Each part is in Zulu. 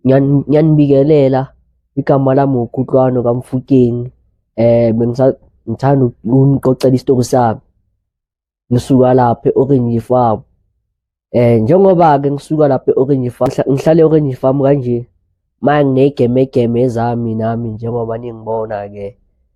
ngiyanibikelela igama lami uKhutlwano kaMfukeng eh bengisangithanda ukunixoxela isitori sami ngisuka lapha e-Orange Farm eh njengoba ke ngisuka lapha e-Orange Farm ngihlale e-Orange Farm kanje manje nginegemegeme zami nami njengoba ningibona ke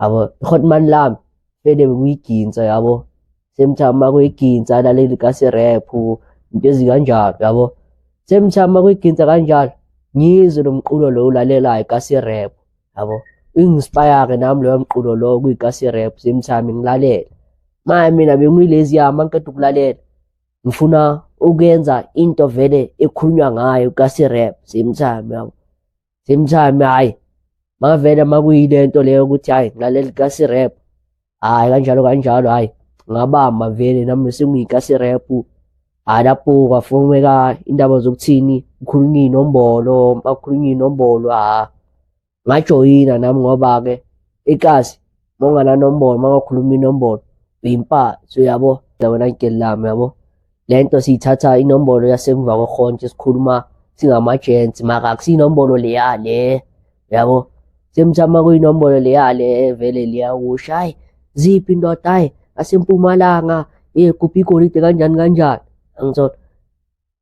yabo khona mani lami fele kuyiginsa yabo same time makuyiginsa laleli kasirap into ezikanjalo yabo same time makuyiginsa kanjalo ngizwe lo mqulo lo ulalelayo kasirap yabo ingispire-ke nami loyo mqulo lowo kuyikasirap same time ngilalela maya mina bengiyilezi yami angiqeda ukulalela ngifuna ukuyenza into vele ekhulunywa ngayo kasirap same time yabo same time hayi makavele makuyile nto leyo ukuthi hayi ngilaleli kasi rap hayi kanjalo kanjalo hayi ngabamba vele nami sengiyikasi rap hayi lapho kwafomeka indaba zokuthini ukhulunywa inombolo makukhulunywa inombolo ha ngajoyina nami ngoba-ke ikasi uma ungananombolo uma ungakhuluma inombolo uyimpatsi uyabo wena ngigeli lami yabo le nto siyithatha inombolo yasemva kwehontshe sikhuluma singama-gents maka akusiyinombolo leya le yabo semthama kuyinombolo leya le vele liyakusho hayi ziphi indoda hayi asempumalanga ye kuphi igolide kanjani kanjani angithola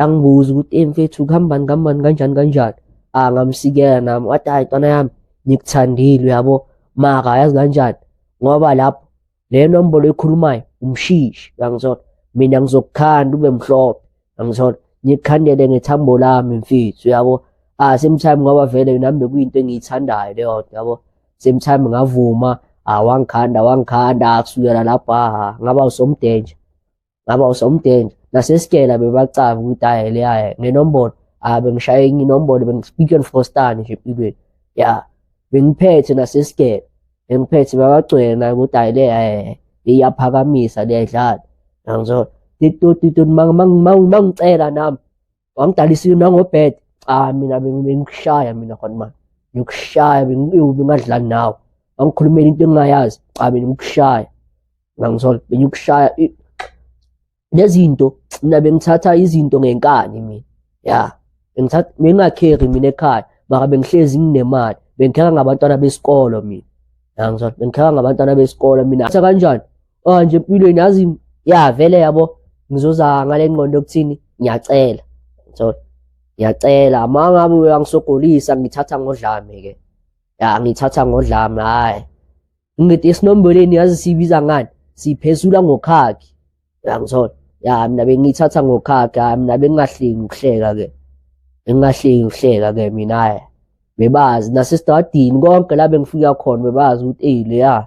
yangibuza ukuthi ey mfethu kuhambani kuhambani kanjani kanjani ah ngamsikela nami wathi hayi ntwana yami ngikuthandile uyabo maka yazi kanjani ngoba lapho le nombolo ekhulumayo umshishi uyangithola mina ngizokukhanda ube mhlophe uyangithola ngikukhandele ngethambo lami mfethu uyabo ah same time ngoba vele nami bekuyinto engiyithandayo leyo nto yabo same time ngavuma ah wangikhanda wangikhanda kusukela lapho ah ngaba usomdenja ngaba usomdenja nasesikela bebacaba ukuthi hayi le hayi ngenombolo ah bengishaye enye inombolo bengispeaking for stand nje empilweni ya bengiphethe nasesikela bengiphethe babagcwele naye ukuthi hayi le hayi iyaphakamisa leyadlala ngizona mangicela nami wangidalisa nangobed cha mina bengikushaya mina khona manje ngikushaya bengadlali nawe wangikhulumela into engingayazi cha mina ngikushaya ngangithola bengikushaya nezinto mina bengithatha izinto ngenkani mina ya bengithatha bengingakheri mina ekhaya maka bengihlezi nginemali bengikheka ngabantwana besikolo mina ngangizwa bengikheka ngabantwana besikole mina thatha kanjani oh nje empilweni yazi ya vele yabo ngizoza ngale ngqondo kuthini ngiyacela so ngiyacela uma ngabe uyangisogolisa ngithatha ngodlame ke ya ngithatha ngodlame hayi ngithi esinomboleni yazi sibiza ngani siphezula ngokhakhi yangithola ya mina bengiyithatha ngokhakhi hayi mina bengingahleki ukuhleka ke bengingahleki ukuhleka ke mina hayi bebazi nasesitadini konke la bengifika khona bebazi ukuthi eyi leya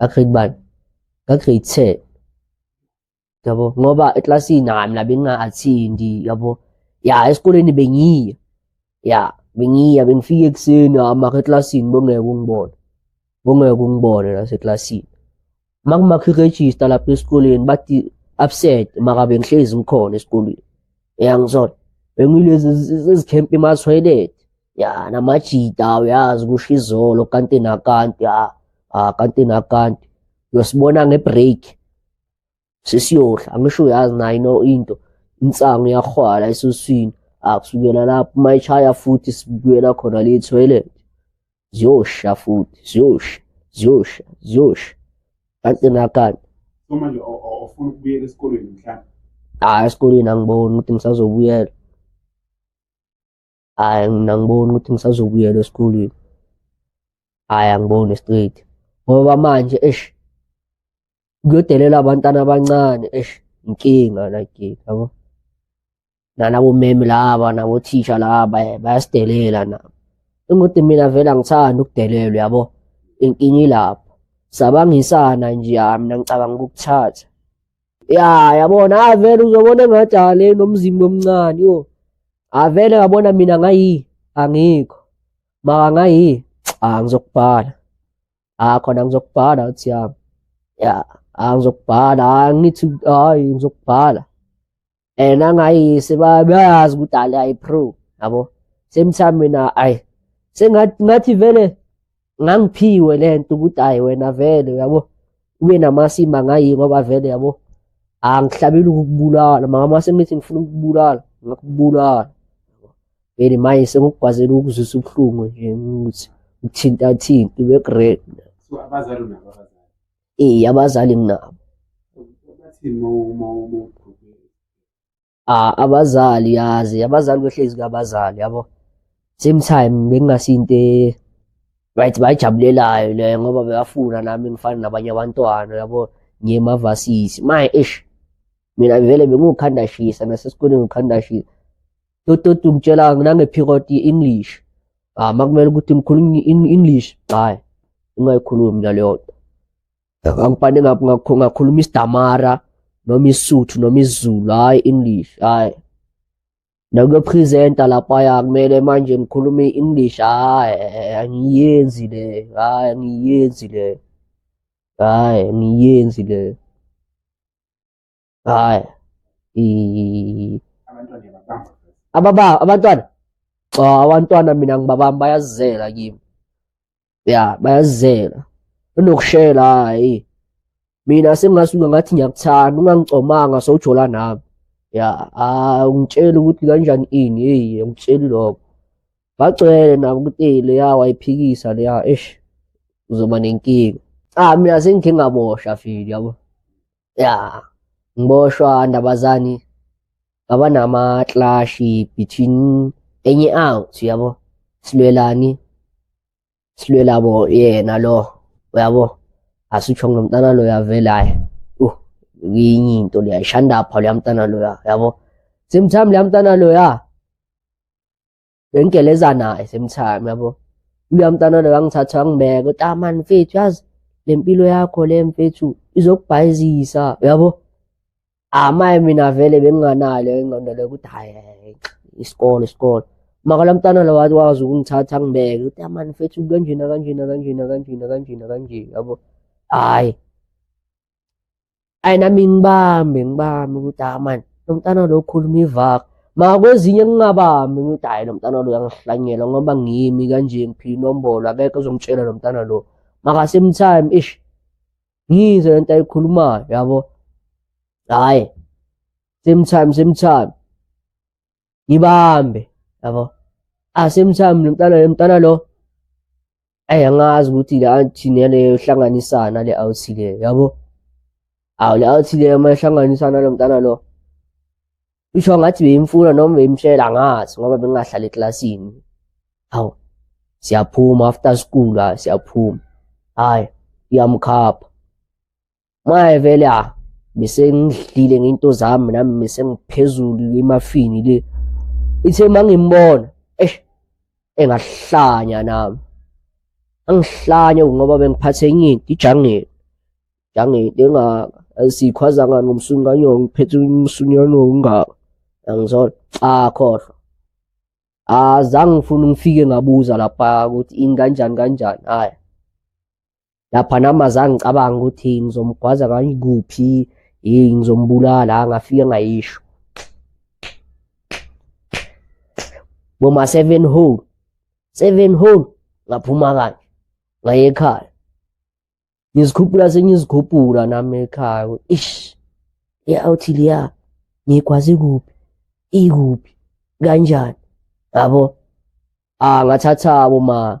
Ngakhribani? Ngagrade 10. Yabo, ngoba eclassini nami la benginga-attend-i, yabo. Ya, esikoleni bengiya. Ya, bengiya, bengifika ekuseni hama eclassini bongeke ungibone. Bongeke ungibone naseclassini. Uma kumakha i-register lapha esikoleni bathi absent maka bengihlezi ngikhona esikoleni. Ya, ngizona. Bengilezi ezikhempa emathoyilethi. ya namajita uyazi kusho izolo kanti nakanti ya ah kanti nakanti uyosibona ngebreak sesiyohla angisho uyazi nayo ino into insangu yahwala esuswini akusukela lapho uma ishaya futhi sibuyela khona le toilet ziyosha futhi ziyosha ziyosha ziyosha kanti nakanti manje ofuna ukubuyela esikolweni mhlawumbe hayi esikolweni angiboni ukuthi ngisazobuyela hhayi mina angiboni ukuthi ngisazobuyela esikolweni hhayi angiboni straight ngoba manje eish kuyodelela abantwana abancane eish inkinga like yabo nalabo meme laba nabothisha laba eh, bayasidelela nabo ingukuthi mina vele angithandi ukudelelwa yabo inkinga ilapho sabangisana nje mina ngicabanga ukukuthatha ya yabona avele uzobona engathi ale nomzimba omncane yo avele ngabona mina ngayi angikho maka ngayi a ngizokubhala a khona ngizokubhala uthi yami ya a ngizokubhala angithi hayi ngizokubhala and angayise bayazi ukuthi ale ayipro yabo same time mina ay sengathi ngathi vele ngangiphiwe lento ukuthi ay wena vele yabo ube namasimba ngayi ngoba vele yabo angihlabeli ukubulala mama sengithi ngifuna ukubulala ngakubulala vele manje sengikugwazela ukuzwisa ubuhlungu nje ukuthi uthinta thinta ube great so abazali nabo Eh abazali nginabo. Ah abazali yazi abazali behlezi kabazali yabo. Same time bengingasinto e- right bayijabulelayo le ngoba beyafuna nami ngifana nabanye abantwana yabo ngiyemavasisi. My ish mina vele bengiwukhanda shisa nasesikoleni ngikhanda shisa. dodoti ngitshela nangephikoti i-english ah makumele ukuthi ngikhulume i-english hayi ungayikhulumi naleyo nto angibhane ngakhuluma isidamara noma isuthu noma isizulu hhayi english hhayi nakuyophrizenta laphaya kumele manje ngikhulume i-english hhayi angiyenzi le hhayi angiyenzi le hhayi angiyenzi le hayi ababa abantwana cha abantwana mina ngibabami bayazizela kimi ya bayazizela unokushela hayi mina sengingasuka ngathi ngiyakuthanda ungangicomanga sowujola nami ya ah ungitshela ukuthi kanjani ini hey ungitsheli lokho bagcwele nabo ukuthi hey leya wayiphikisa leya eish uzoba nenkinga ah mina sengikhe ngabosha fili yabo ya ngiboshwa ndabazani baba nama clash between enye out yabo silwelani silwela bo yena lo uyabo asitsho ngomntana lo yavela hayi uh yinye into leya ishanda pha leyamntana loya yabo same time leyamntana loya bengigelezanayo same time yabo uya mntana lo wangithatha wangibeka uthi ah man mfethu yazi le mpilo yakho le mfethu izokubhayizisa uyabo amaye ah, mina vele benginganalo ingqondo leyo ukuthi hayi isikole isikole maka la mntana lo wazi ukungithatha angibeke uthi ah, man mfethu kanjena kanjena kanjena kanjena kanjena kanje yabo hayi ayi nami ngibambe ngibambe ukuthi ah mani lo mntana lo ukhuluma ivaka ma kwezinye ngingabambi ngithi hhayi lo mntana lo uyangihlanyela ngoba ngimi kanje ngiphile inombolo akekho ozongitshela lo mntana lo makasame time ish ngizwe le nto ayikhulumayo yabo hhayi same time same time ngibambe yabo asemthamu nomntana nomntana lo ayi angazi ukuthi le anti neleyo hlanganisana le awuthi le yabo awu le awuthi le uma ihlanganisana lo mntana lo isho ngathi beyimfuna noma beyimshela angazi ngoba bengingahlali eklasini awu siyaphuma after school siyaphuma hayi iyamkhapha Maye vele a ah, bese ngidlile ngento zami nami bese ngiphezulu emafini le. Ithe mangimbona eh engahlanya nami. Angihlanye ngoba bengiphathe enye into ijangeni. Jangeni engaka asikhwaza ngani ngomsunganyo ngiphethe umsunyano ongaka. Angizona cha khohlwa. Azange ngifuna ngifike ngabuza lapha ukuthi inganjani kanjani. Hayi. lapha nami azange ngicabanga ukuthi ngizomgwaza ngayikuphi hey ngizombulala ngafike ngayisho boma 7 hole 7 hole ngaphuma kanje ngaye ekhaya ngizikhuphula sengizikhuphula nami ekhaya ish ya awuthi liya ngikwazi kuphi ikuphi kanjani yabo ah ngathatha boma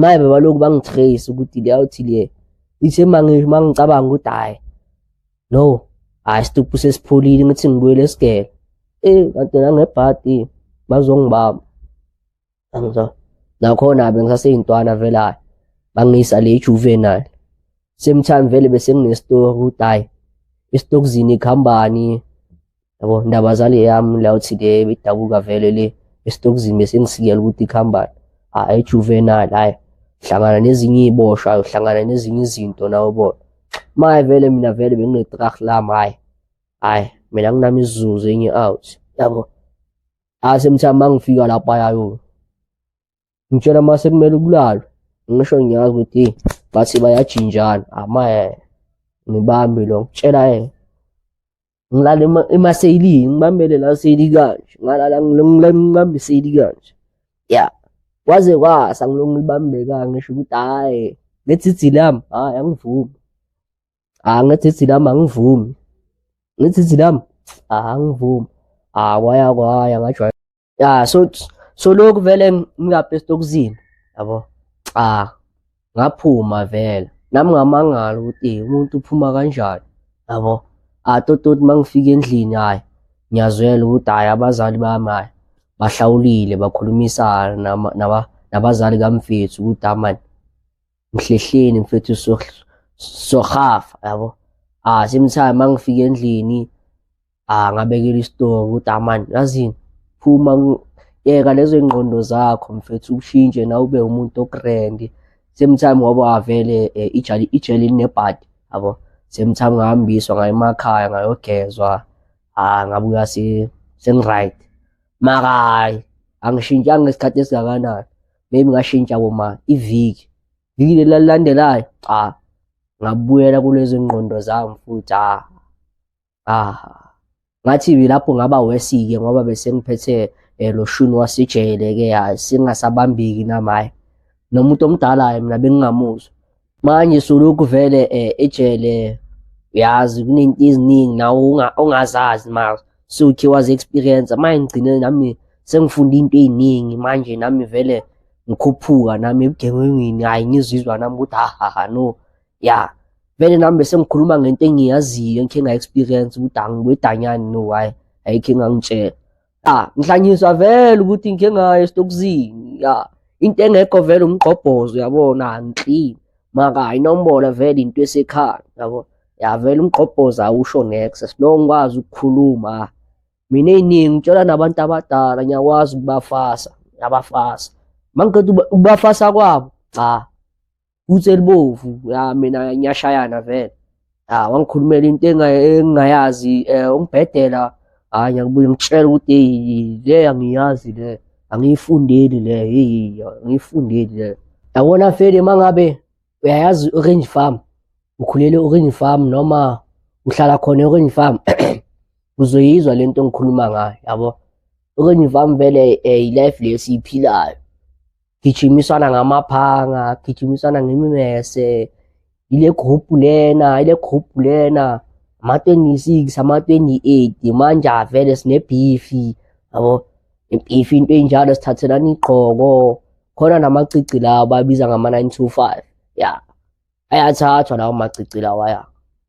maye bebalokhu bangitrace ukuthi liyawuthi le ithe mangicabanga ukuthi hhayi no hhayi stuphu sesipholile ngithi ngibuyele esigebe eyi kanti nangebhadi bazongibamba angizwa nakhona-ke ngisaseyintwana vele hhayi bangiyisa le juvenile same time vele bese nginestori ukuthi hhayi esitokuzini ikhambani yabo ndaba zale yami la uthi le idabuka vele le esitokuzini bese ngisikela ukuthi ikhambani hayi ijuvenal hayi hlangana nezinye iboshwa uhlangana nezinye izinto nawe bona maye vele mina vele benginetrah lami hayi hayi mina nginami isizuzu enye out yabo asemthama mangifika lapha yayo ngitshela mase kumele ukulalwe ngisho ngiyazi ukuthi bathi bayajinjana amaye ngibambe lo ngitshela yena ngilala emaseyilini ngibambele la seyili kanje ngalala ngibambe iseyili kanje ya kwaze kwasa ngilonga ulibambeka ngisho ukuthi hhayi ngethidzi lami hhayi angivumi hha ah, ngethidzi lami angivumi ngethidzi lami hha ah, angivumi hha ah, kwaya kwaya ngajwayela ya so so lokhu vele ngingabhest okuzini yabo cha ngaphuma vele nami ngamangala ukuthi eh, umuntu uphuma kanjani yabo atototi mangifika endlini hayi ngiyazwela ukuthi hayi abazali bami hayi bahlawulile bakhulumisana nabazali kamfethu ukuthi amani ngihlehleni mfethu sohafa yabo ah same time mangifika endlini ah ngabekela isitoko ukuthi amani ah, yazini phuma yeka lezo ingqondo zakho mfethu ushintshe na ube umuntu ogrand same time ngoba avele eh, ijali ijeli linebhadi yabo same time ngahambiswa ngaye emakhaya ngayogezwa ah ngabuya se sengiright makayi angishintshanga isikhathi esingakanani maybe ngashintsha koma iviki viki lelilandelayo cha ngabuyela kulezo ngqondo zami futhi ah ah ngathi lapho ngaba wesike ngoba bese ngiphethe eh, lo shuni wasijele ke singasabambiki namaye nomuntu omdala mina bengingamuzwa manje sulokhu vele um ejele uyazi kunento eziningi nawe ongazazi ma suthi wazi experience manje ngigcine nami sengifunda into ey'ningi manje nami vele ngikhuphuka nami ebugengengini hhayi ngizizwa nami ukuthi hahaha no ya vele nami bese ngikhuluma ngento engiyaziyo engikhe nga-experience ukuthi angibedanyani no hhayi ayikho engangitshela ya ngihlanyiswa vele ukuthi ngike ngayo esitokuzini ya into engekho vele umgqobhozo yabona angiklini maka ayinombolo vele into esekhaya yabo ya vele umgqobhozo awusho nex sinongikwazi ukukhuluma ah. mina eyiningi ngitshela nabantu abadala ngiyakwazi ukubafasa ngiyabafasa mangiqeda ukubafasa kwabo cha boots elibovu ya mina ngiyashayana vele ah wangikhulumela into engingayazi eh ungibhedela hayi ngiyakubuye ngitshela ukuthi hey le angiyazi le angiyifundeli le hey angiyifundeli le yabona fele mangabe uyayazi orange farm ukhulele orange farm noma uhlala khona orange farm uzoyizwa lento engikhuluma ngayo yabo orange farm vele eh, i life lesiyiphilayo gijimisana ngamaphanga gijimisana ngemimese yile group lena yile group lena ama-26 ama-28 manje avele sinebhifi yabo ibhifi into enjalo sithathelana igqoko khona namacici lawo babiza ngama-925 ya ayathathwa lawo macici lawa ya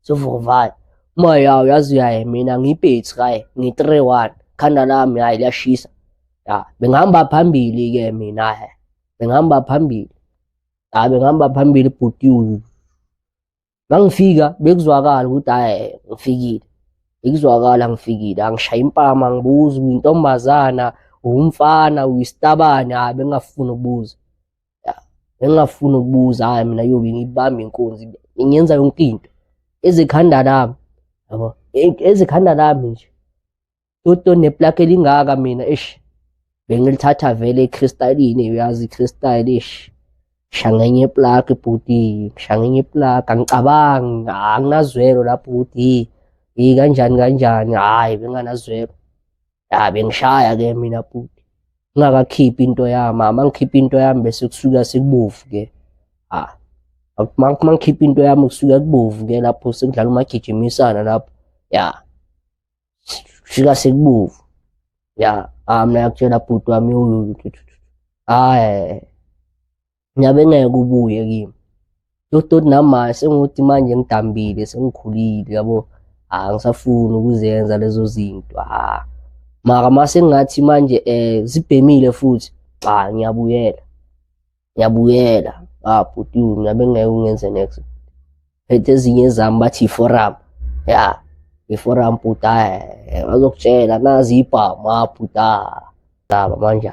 Sovuka vaya. Uma ya uyazi uyaye mina ngibhethi kaye ngi 3-1 khanda lami hayi liyashisa. Ya bengihamba phambili ke mina he. Bengihamba phambili. Ya bengihamba phambili bhuti uyu. Mangifika bekuzwakala ukuthi hayi ngifikile. Bekuzwakala ngifikile angishaya impama ngibuza intombazana umfana uyisitabane hayi bengafuni ukubuza. engingafuni ukubuza hayi mina yobe ngibamba inkunzi ngenza yonke into ezikhanda lami yabo e-, ezikhanda lami nje toto neplaki elingaka mina eish bengilithatha vele ekhristaline uyazi ikhristaline eish shangenye iplaki bhuti shangenye iplaki angicabangi anginazwelo la bhuti yi kanjani kanjani hhayi benganazwelo ya bengishaya ke mina bhuti ngingakakhiphi into yami mama ngikhipha into yami bese kusuka sekubovu ke ha uma ngikhipha into yami kusuka kubovu ke lapho sekudlala umagijimisana lapho ya fika sekubovu ya ah mina yakutshela bhuti wami uyuyu hayi nyabe ngeke ubuye kimi lodoti nami manje sengukuthi manje ngidambile sengikhulile yabo ha ngisafuni ukuzenza lezo zinto ha mara mase ngathi manje eh zibhemile futhi cha ngiyabuyela ngiyabuyela ah bhuti nyabe ngeke ungenze next phethe ezinye zami bathi forum ya iforum bhuti bazokutshela nazi ibhamu ha bhuti ndaba manje